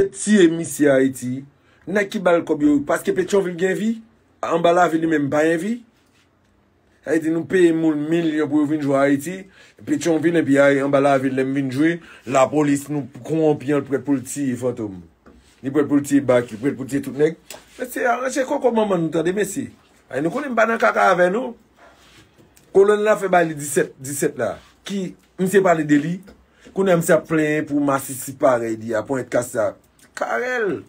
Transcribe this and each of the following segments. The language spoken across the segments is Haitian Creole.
Yo t tiye misye ayiti. Nèg ki bal kòb yo paske petyonvil gen vi anba lavi li menm pa gen vi sa vle di nou peye moun milyon pou yo vin jwe ayiti petyonvil enpi anba lavil lèm vin jwe lapolis nou konwonpi an l prèt pou l tiye fantom li prèt pou l tiye baky prèt pou l tiye tout nèg mesye arange koko manman nou tande mesye ay nou konnen m pa nan kaka avè nou kolonn la fè bay li 17 17 la ki Misye pale de li, kounye a misye ap plenyen pou masisi parèy li a, ponyèt kas sa. Carel!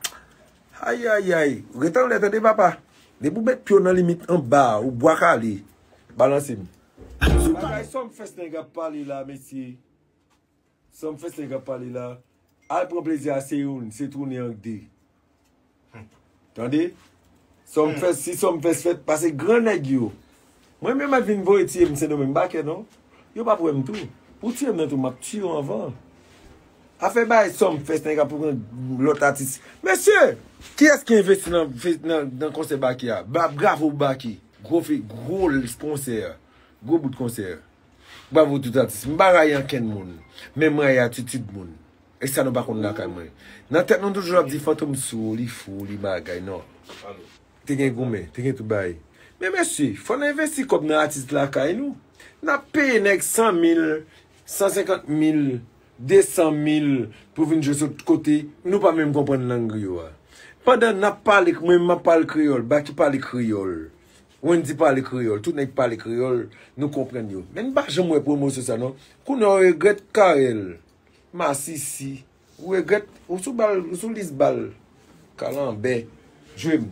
Ayayay! Ret anlè tande papa! Depi ou met pye w nan limit anba a, ou bwa kale. Balanse m. Bagay Sumfest nèg ap pale la mesye. Sumfest nèg ap pale la. Al pran plezi a se youn, se tounen an k de. Tande Som fes si som fes fet pase gran neg yo Mwen menm ap vin voye tiye m se nou menm m pa kè non Yo pap wè m tou Pou tiye m nan tou map tiye w anvan Afè bay som fes neg ap pran lot atis Mesye Kiyes ki envesti nan konse Baky a Bravo pou Baky Gwo fi gwo konse Gwo bout konse Bravo tout atis M pa rayi ankenn moun Men m rayi atitid moun E sa nou pa konn lakay mwen. Nan tèt nou toujou ap di fantom sou, li fou, li bagay nan. Te gen goumen, te gen tout bagay. Men mesye, fò n envesti kòb nan atis lakay nou. N ap peye nèg 100 mil, 150 mil, 200 mil pou vin jwe sot kote, nou pa menm konprann lang yo a. Pandan n ap pale, mwen menm m ap pale kreyòl, Baky pale kreyòl, Wendy pale kreyòl, tout nèg pale kreyòl, nou konprann yo. Men n pa janm wè pwomosyon sa non. Kounye a w regrèt Carel. Masisi ou regret ou sou bal ou sou lis bal kalanbè dream.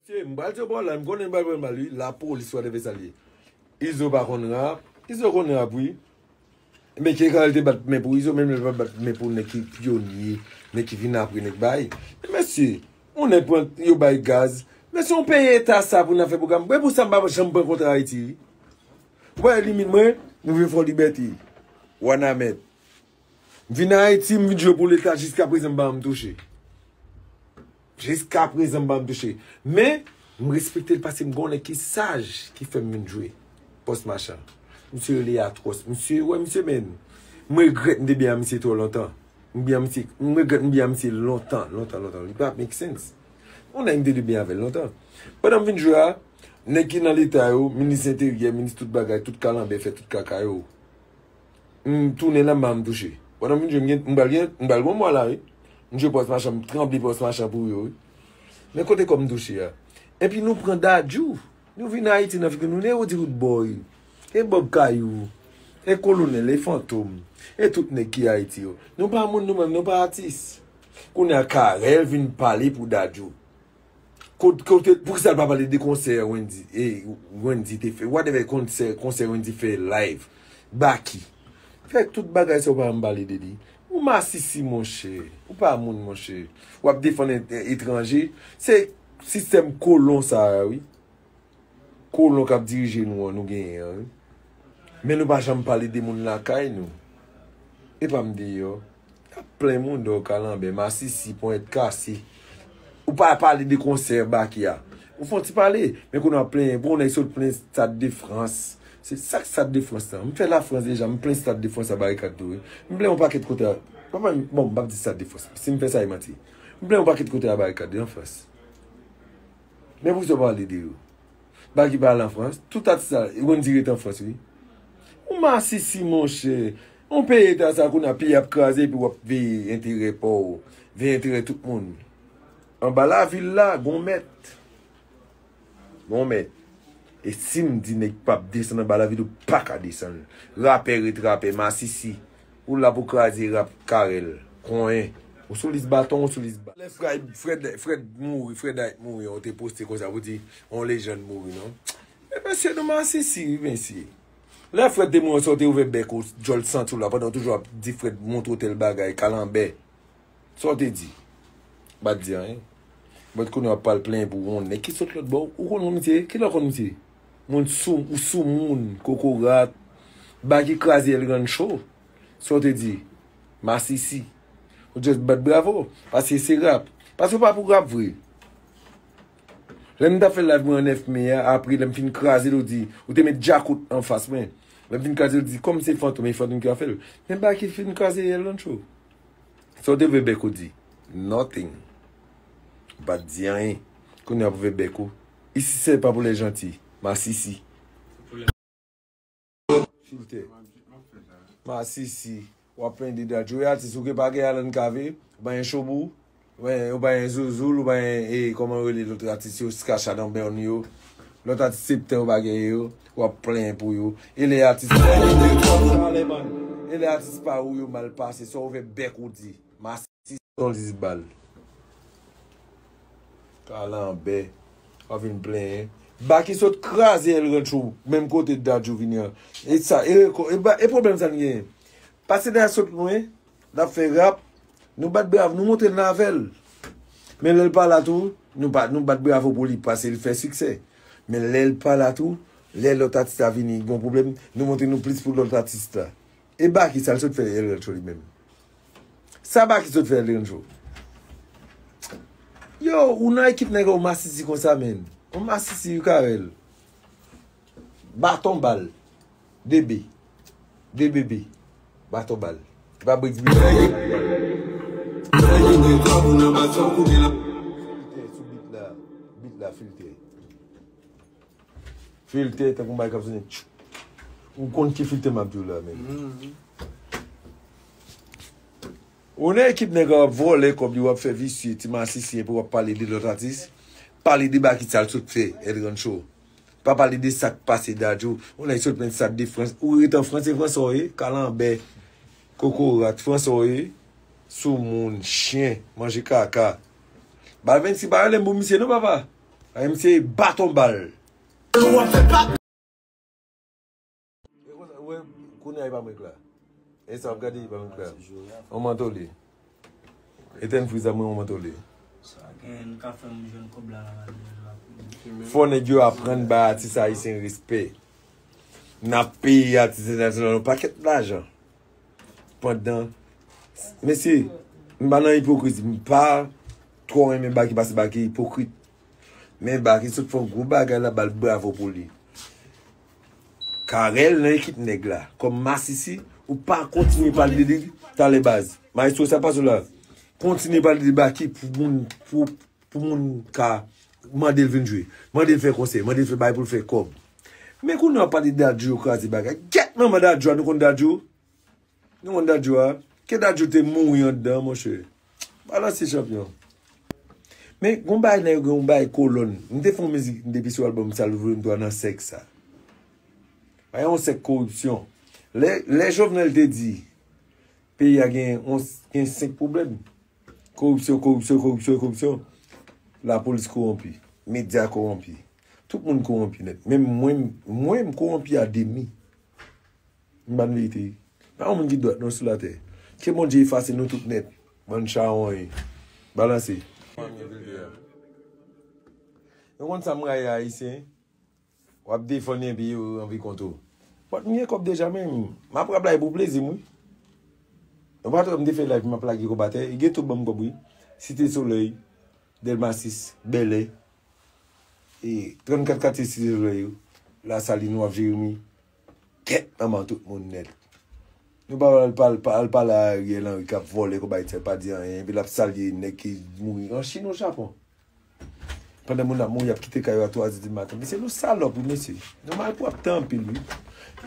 Mesye m pral diyo bon la m konnen nou pral prann bal wi lapolis whatever sa l ye izo pa konn rap izo konn rap wi. Ebyen Che Guevara te bat men pou Izo menm lè l pa t bat men pou nèg ki pyonye, nèg ki vin apre, nèg bay. Men mesye, yon nèg pran, yo bay gaz. Mesye yon peyi eta sa pou n ap fè pwogram. Mwen pou sa m pa janm pran kontra Ayiti wi. Ou pa wè limit mwen, m rive Fò Libète, Wanament. M vin Ayiti, m vin jwe pou leta jiskaprezan m pa janm touche. Jiska prezan m pa janm touche. Men, m respekte l pase m gen yon nèg ki saj ki fè m vin jwe pòs machan. Misye rele Atròs. Misye, wè misye men. M regrèt m te byen a misye twò lontan. M byen a misye, m regrèt m byen a misye lontan, lontan, lontan. Li pa make sense. Yon nèg m te dwe byen avè l lontan. Pandan m vin jwe a, nèg ki nan leta yo, minis enteryè, minis tout bagay, tout kalanbè fè tout kaka yo. M tounen la m pa janm touche. Pandan m fin jwe m gen m pral gen m pral gen yon mwa la wi. M jwe pòs machan m tranble pòs machan pou yo wi. Men kote kòm touche a. Epi nou pran Dadju. Nou vin Ayiti nan figi nou. Nou e Roody Roodboy. E Bob Kayou. E Kolonèl. E Fantom. E tout nèg ki Ayiti yo. Nou pa moun nou menm. Nou pa atis. Kounye a Carel vin pale pou Dadju. Kote poukisa l pa pale de konsè wendy e wendy te fè whatever konsè konsè wendy fè live baky fè tout bagay sa ou pa janm pale de li ou masisi monchè ou pa moun monchè wap defann etranje se sistèm kolon sa a wi. Kolon kap dirije nou an nou genyen an wi. Men nou pa janm pale de moun lakay nou. Epa m deyò. Nap plen moun dò kalanbè, masisi, ponyèt kase. Ou pa pale de konsè Baky a. Ou fon ti pale. Men kounye a wap plenyen pou yon nèg sot plen stad de frans. Se sak stad de frans lan. M fè la frans deja m plen stad de frans a barikad tou wi. M plen yon pakèt kote a. Bon m pap di stad de frans. Si m fè sa e manti. M plen yon pakèt kote a barikad wi an frans. Men pou sa w pale de yo. Baky pa al an Frans. Tout atis la, yo konn di ret an Frans wi. Ou masisi monchè. Yon peyi eta sa kounye a, peyi a ap kraze epi w ap veye enterè pa w, veye enterè tout moun. Anba lavil la, gon mèt. Gon mèt. E si m di nèg pa p desann anba lavil, ou pa ka desann. Rapè ret rapè, masisi. Ou la pou kraze rap carel. Konyen. Ou sou lis baton ou sou lis bal. Lè Fred mouri Fred Hype mouri an ou te poste konsa pou di yon lejand mouri non Men mesye nou masisi wi mesye Lè Fred te mouri an sa ou te ouvè bèk ou djòl santi w la pandan ou toujou ap di Fred montre w tèl bagay kalanbè Sa w te di Ou pa t di anyen But kounye a w ap pral plenyen pou w yon nèg ki sot lòtbò Ou konn misye? Kilè w konn misye? Moun sou ou sou moun kokorat. Baky kraze el grand show sa w te di masisi ou just bat bravo paske se rap paske ou pa pou rap vre lè m tap fè live mwen an 9 me a apre lè m fin kraze l ou di ou te met djakout anfas mwen lè m fin kraze l ou di kòm se fantom e fantom ki ap fè l men baky fin kraze el grand show sa w te vle bèk ou di nothing ou pat di anyen kounye a pou vle bèk ou. Isit se pa pou les janti. Masisi. Filtè. Masisi. Wap plen de dat. Joe atis ou ke pa gen Alan Cavé. Ou pa gen Showbou. Ou pa gen Zouzoul. Ou pa gen e koman rele lot atis yo. Ska Shadan Bern yo. Lot atis septen ou pa gen yo. Wap plen pou yo. E le atis pa ou yo. Pale man. E le atis pa ou yo mal pase. Sa ou ve bek ou di. Masisi. Ti son dis bal. Kalanbè. Wap vin plenyen. Baky sot kraze el rancho menm kote Dadju vini an. E sa e reko e pwoblèm sa n genyen. Pase dèyè sot lwen. Nap fè rap. Nou bat bravo nou montre n avè l. Men lè l pa la tou nou pa nou bat bravo pou li pase l fè siksè. Men lè l pa la tou lè lòt atis la vini gon pwoblèm nou montre nou plis pou lòt atis la. E Baky sa l sot fè el rancho li menm. Sa baky sot fè yon jou. Yo ou nan ekip nèg yo masisi konsa menn. Ou masisi ou karel. Baton bal. Bebe. Bebebe. Baton bal. Epa bricks bile a ye. Filtè sou bit la. Bit la filtè. Filtè tankou bagay kap sone tchou. Ou konn ki filtè map diw la men. Ou nan ekip nèg wap vòlè kòb li wap fè visye ti masisi epi wap pale de lòt atis pale de baky sal sot fè et rancho pa pale de sak pase dadju ou nèg sot plen stade de frans ou ret an frans se fransa ou ye kalanbè kokorat fransa ou ye soumoun chyen manje kaka bal 26 pa rele m pou misye non papa. Ay m se baton bal. Kounya li pa mwen kla. Esa wap gade li pa mwen kla. On manto li. Etèn friz la mwen on manto li. Sa gen ka fè m jwenn kob la nan manuel la pou m. Fò nèg yo aprann bay atis ayisyen respè. Nap peye atis entènasyonal yon pakèt lajan. pandan mesye m pa nan ipokrizi m pa twò renmen Baky pase Baky ipokrit men Baky sot fè yon gwo bagay la bal bravo pou li Carel nan ekip nèg la kòm masisi ou pa kontinye pale de li talè baz maestro sa pa sou la kontinye pale de Baky pou moun pou Pou moun ka Mande l vin jwe. Mande l fè konsè. Mande l fè bagay pou l fè kòb. Men kounye a w ap pale Dadju yo kraze bagay. Gyèt manman Dadju a nou konn Dadju? Nou konn Dadju a? Ke Dadju te mouri anndan monchè. Balanse chanpyon. Men gon bagay nan yo gen yon bagay kolòn. M te fè yon mizik depi sou albòm Sal Vre M 3 nan sèk sa. Bagay yon sèk koripsyon. Lè Jovenel te di peyi a gen yon gen 5 pwoblèm. Koripsyon, koripsyon, koripsyon, koripsyon. Lapolis kowonpi. Medya kowonpi. Tout moun kowonpi nèt. Menm mwen, mwen m kowonpi a demi. M ba n verite wi. Pa yon moun ki dwat non sou latè. Ke Bondye efase nou tout nèt. Bann chawony. Balanse. Yo konn sa m rayi Ayisyen. Wap defann li epi yo anvi kont ou. But m gen kob deja men m ap rap live pou plezi m wi Nou pat wè m te fè live m ap lage kob atè Gen tout banm kob wi Cité soleil Delma 6 Bèlè E 34 katye Cité soleil yo La saline waf Jérémie Kèt manman tout moun nèt Nou pa wè pa al pale a Ariel Henry kap vòlè kob Haïti a l pa di anyen epi lap salye nèg ki mouri en Chine ou Japon Pandan moun ap mouri ap kite kay yo a 3 zè di maten. Mesye nou salòp wi mesye. Nou malpwòpte anpil wi.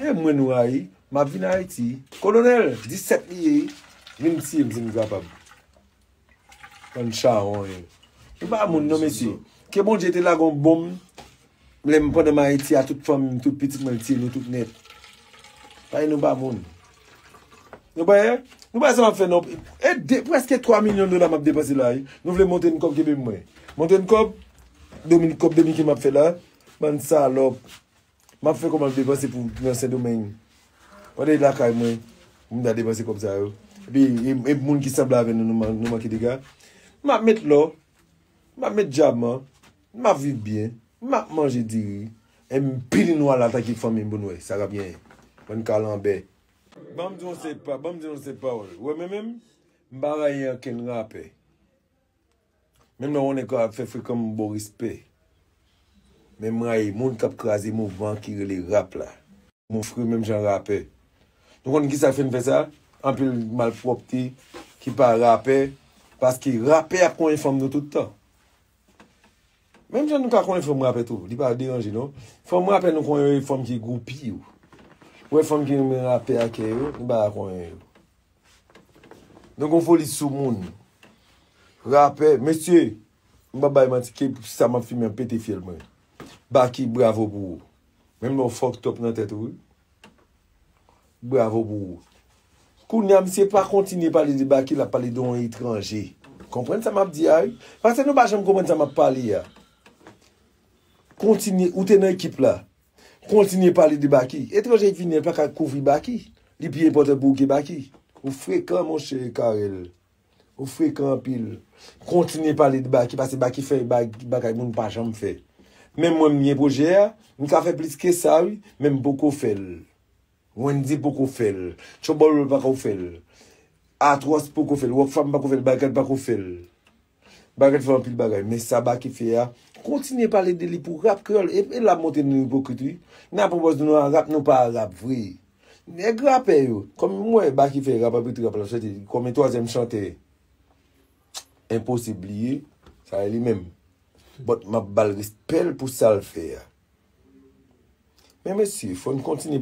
E mwen nou rayi. M ap vin Ayiti. Kolonèl, 17 li ye wi. Vin tiye m si nou kapab. Bann chawony. Nou pa moun non mesye. Ke Bondye te lage yon bonm. Lem pandanm ayiti a tout fanmim tout pitit mwen mtye nou tout net bay nou ba moun nou bay nou bay sa map fe non e de preske 3 milyon dola map depanse la wi nou vle monte yn kob kenbem mwen monte yn kob domin kob dominken map fe la bann salop map fe kob map depanse pou nan sendomeng pande lakay mwen poum ta depanse kob sa yo epi e moun ki sanble avè nou nou manke dega map met lò map met dyaman M ap viv byen. M ap manje diri. E m pini nou al atake fanmi m pou n wè sa k ap genyen. Bann kalanbè. Ban m di w yon seri pa, ban m di w yon seri pawòl. Ou wè mwen menm, m pa rayi ankenn rapè. Menm lè yon nèg ka fè frekan m ba w respè. Men m rayi moun k ap kraze mouvman ki rele rap la. Nou fre menm jan rapè. Nou konnen ki sa k fè n fè sa? Anpil malpwòpte ki pa rapè. Paske rapè ap konyen fanm nou tout tan. Menm jan nou ka konnen fanm rapè tou, li pa deranje non. Fanm rapè nou konnen yo e fanm ki gwoupi yo. Ou wè fanm ki renmen rapè a kè yo, nou pa ka konnen yo. Nou gon foli sou moun. Rapè, mesye, m pa bay manti ke sa m ap fimen an pete fyèl mwen. Baky, bravo pou ou. Menm lè ou fucked up nan tèt ou wi. Bravo pou ou. Kounya misye pa kontinye pale de Baky lap pale de yon etranje. Konprann sa map di a wi. Pase nou pa janm konprann sa map pale a. Kontinye, ou te nan ekip la. Kontinye pale de Baky. Etranje ki vini an paka kouvri Baky. Li pi enpòtan pou ou ke Baky. Ou frekan monche Carel. Ou frekan anpil. Kontinye pale de Baky pase Baky fè bagay moun pa janm fè. Menm mwen m gen pwojè a, m ka fè plis ke sa wi, men m poko fè l. Wendy poko fè l. Tchobolo pako fè l. Atròs poko fè l. Rockfam pako fè l. Bagrat pako fè l. Bagrat fè anpil bagay. Men sa Baky fè a, kontinye pale de li pou rap kreyòl. E la montre nou ipokrit wi. Nan pwopòz nou nan rap nou pa rap vre. Nèg rapè yo, kòm m wè Baky fè rap api trap la soti kòm yon twazyèm chantè enposib li ye, sa a li menm. But m ap ba l respè l pou sa l fè a. Men mesye, fò n kontinye.